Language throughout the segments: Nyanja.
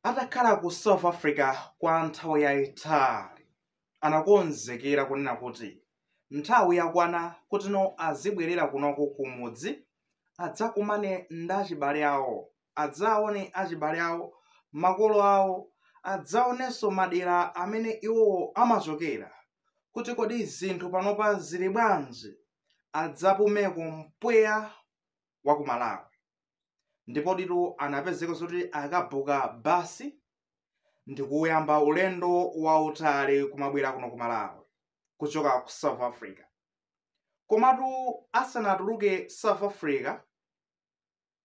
atakhala ku south africa kwa nthawi yayitali anakonzekera kunena kuti nthawi yakwana kutino azibwerera kunoko kumudzi adzakumane ndi achibale awo adzaone achibale awo makolo awo adzaonenso madera amene iwowo amachokera kuti kodi zinthu panopa zili bwanji adzapumeko mpweya wa ku malawi ndipo ndithu anapezeka zoti akabuka basi ndi kuyamba ulendo wautali kumabwera kuno ku malawi kuchoka ku south africa komatu asanatuluke south africa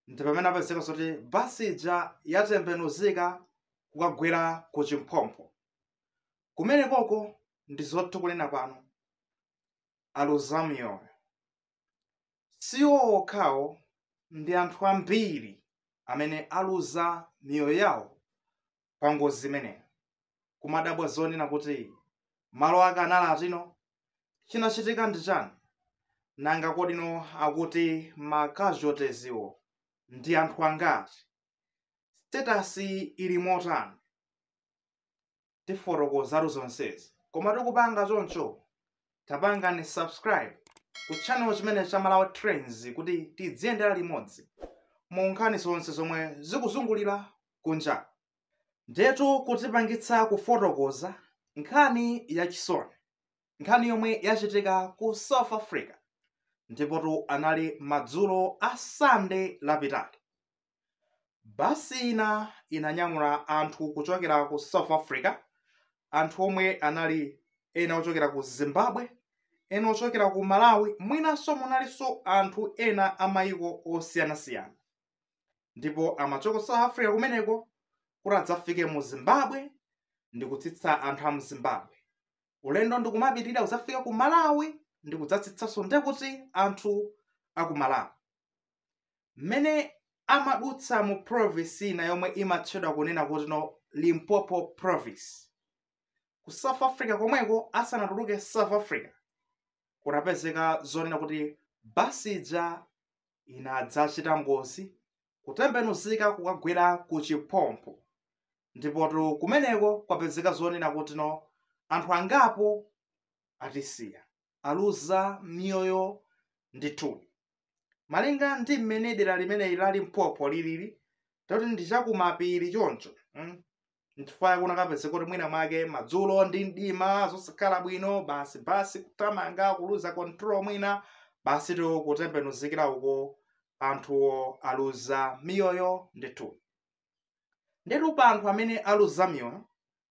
ndi pamene apezeka zoti basi ija yatembenuzika kukagwera ku chiphompho kumenekoko ndi zoti tu kunena pano aluza miyoyo Si iwo okhawo, ndi anthu ambiri amene aluza miyoyo yawo pa ngozi imeneyo. Kumadabwa zonena kuti, Malo ake anali otino? Chinachitika ndi chani? Nanga kodi amene akuti ma casualties wo ndi anthu angati? Status ili motani? tifotokozatu zonsezi koma tikupanga choncho tapangani subscribe ku channel chino cha malawi trends kuti tidziyendera limodzi mu nkhani zonse zomwe zikuzungulira kunja ndetu kutipangitsa kufotokoza nkhani yachisoni nkhani yomwe yachitika ku south africa ndipotu anali madzulo a sande lapitali Basi ina inanyamula anthu kuchokera ku South Africa, anthu omwe anali ena ochokera ku Zimbabwe, ena ochokera ku Malawi, mwinanso munalinso anthu ena a mayiko osiyanasiyana. Ndipo amachoka South Africa kumeneko kuti adzafike mu Zimbabwe ndi kutsitsa anthu a mu Zimbabwe. Ulendo ndi kumapitirira kudzafika ku Malawi ndi kudzatsitsanso ndekuti anthu a ku Malawi. mmene amadutsa mu province ina yomwe imatchedwa kunena kutino limpopo province ku south africa komweko asanatuluke south africa kunapezeka zonena kuti basi ija inadzachita ngozi kutembenuzika kukagwera ku chiphompho ndipotu kumeneko kwapezeka zonena kutino anthu angapo atisiya aluza miyoyo ndithu malinga ndi mmene dera limeneli la limpopo lilili toti ndi chakumapiri choncho mm? nchifukwa chake kunakapezeka kuti mwina mwake madzulo ndi mdima zosakhala bwino basi basi kutamanga kuluza control mwina basi tu kutembenuzikira uko anthuwo aluza miyoyo ndithu ndetu pa anthu amene aluza miyoyo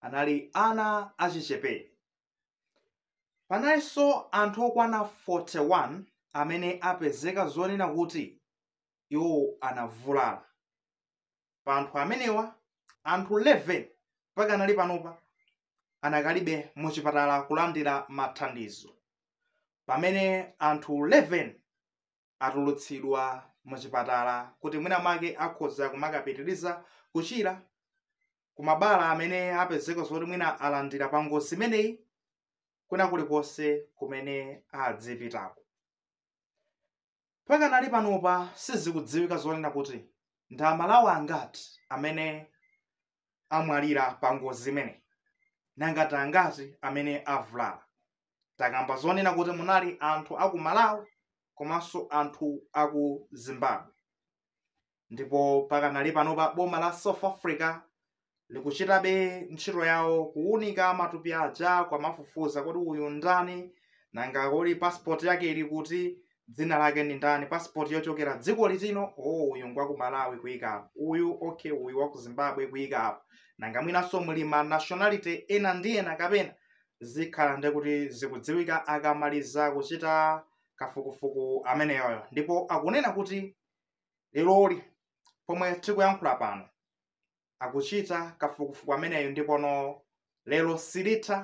anali ana achichepere. Panalinso anthu okwana 41 amene apezeka zonena kuti iwo anavulala. Pa anthu amenewa, anthu 11 mpaka nali panopa anakalibe mu chipatala kulandira mathandizo, pamene anthu 11 atulutsidwa muchipatala kuti mwina mwake akhoza kumakapitiriza kuchira ku mabala amene apezeka zoti mwina alandira pa ngozi imeneyi kuna kulikonse kumene adzipitako mpaka nali panopa sizikudziwika zonena kuti ndi amalawi angati amene amwalira pa ngozi imeneyi nanga ndi angati amene avulala takamba zonena kuti munali anthu aku malawi komanso anthu aku zimbabwe ndipo mpaka nali panopa boma la south africa likuchitabe ntchito yawo kuwunika matupi aja kumafufuza kuti uyu ndani nanga kodi passport yake ili kuti dzina lake ndi ndani passport yochokera dziko litino oh uyu ngwa ku malawi kuyika apo uyu okay uyu wa ku zimbabwe kuyika apo nanga mwinanso muli ma nationality ena ndi ena kapena zikhala ndi kuti zikudziwika akamaliza kuchita kafukufuku ameneyoyo ndipo akunena kuti leroli pomwe tikuyankhula pano akuchita kafukufuku ameneyo ndipo no lero lisanathe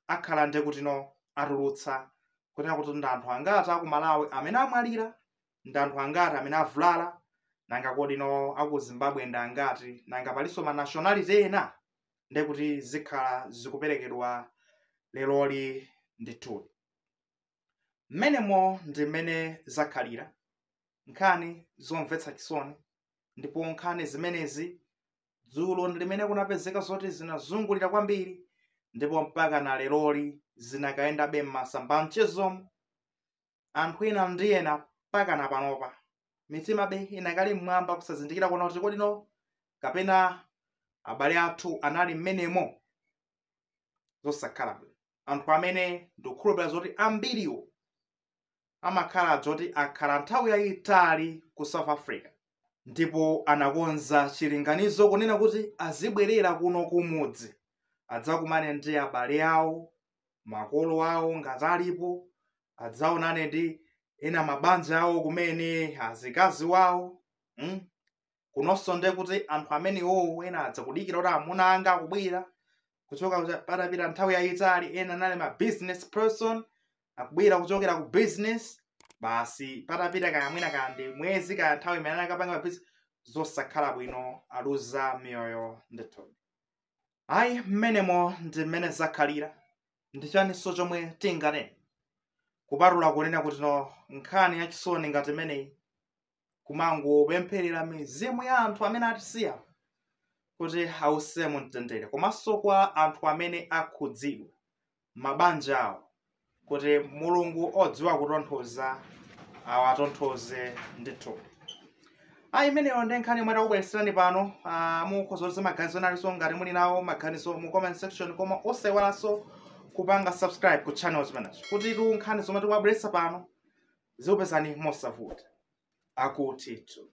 akhala nde kuti no atulutsa kunena kuti ndi anthu angati aku malawi amene amwalira ndi anthu angati amene avulala nanga kodi no aku zimbabwe ndi angati nanga palinso ma nationality ena nde kuti zikhala zikuperekedwa leroli ndithu mmenemo ndi mmene zakhalira nkhani zomvetsa chisoni ndipo nkhani zimenezi dzulo ndi limene kunapezeka zoti zinazungulira kwambiri ndipo mpaka na leroli zinakayendabe m'masamba a mchezomo anthu ena ndi ena mpaka na panopa mitimabe inakali mmwamba kusazindikira kunena kuti kodi no kapena abale athu anali mmenemo zosakhala bwino anthu amene ndikukhulupirira zoti ambiriwo amakhala zoti akhala nthawi yayitali ku south africa ndipo anakonza chilinganizo kunena kuti azibwerera kuno kumudzi adzakumane ndi abale awo makolo awo ngati alipo adzaonane ndi ena mabanja awo kumene azikazi wawo mm? kunonso nde kuti anthu amene iwowo ena adzakudikira kuti amuna anga akubwera kuchoka kucha- patapita nthawi yayitali ena anali ma business person akubwera kuchokera ku business basi patapita kaya mwina kaya ndi mwezi kaya nthawi imene anali akapanga business zosakhala bwino aluza miyoyo ndithu ayi mmenemo ndi mmene zakhalira ndi chaninso chomwe tinganene kupatula kunena kuti no nkhani yachisoni ngati imeneyi kumangopempherera mizimu ya anthu amene atisiya kuti ause mu mtendere komanso kwa anthu amene akhudzidwa mabanja awo kuti mulungu odziwa kutonthoza awatonthoze ndithu ayi imeneyo ndi nkhani yomwe takubweretserani pano ah, mukhoza kuti maganizo analinso ngati muli nawo maganizo mu comment section koma osayiwalanso kupanga subscribe ku channel zimenezo kuti nkhani zomwe tikubweretsa pano zikupezeni mosavuta akutitu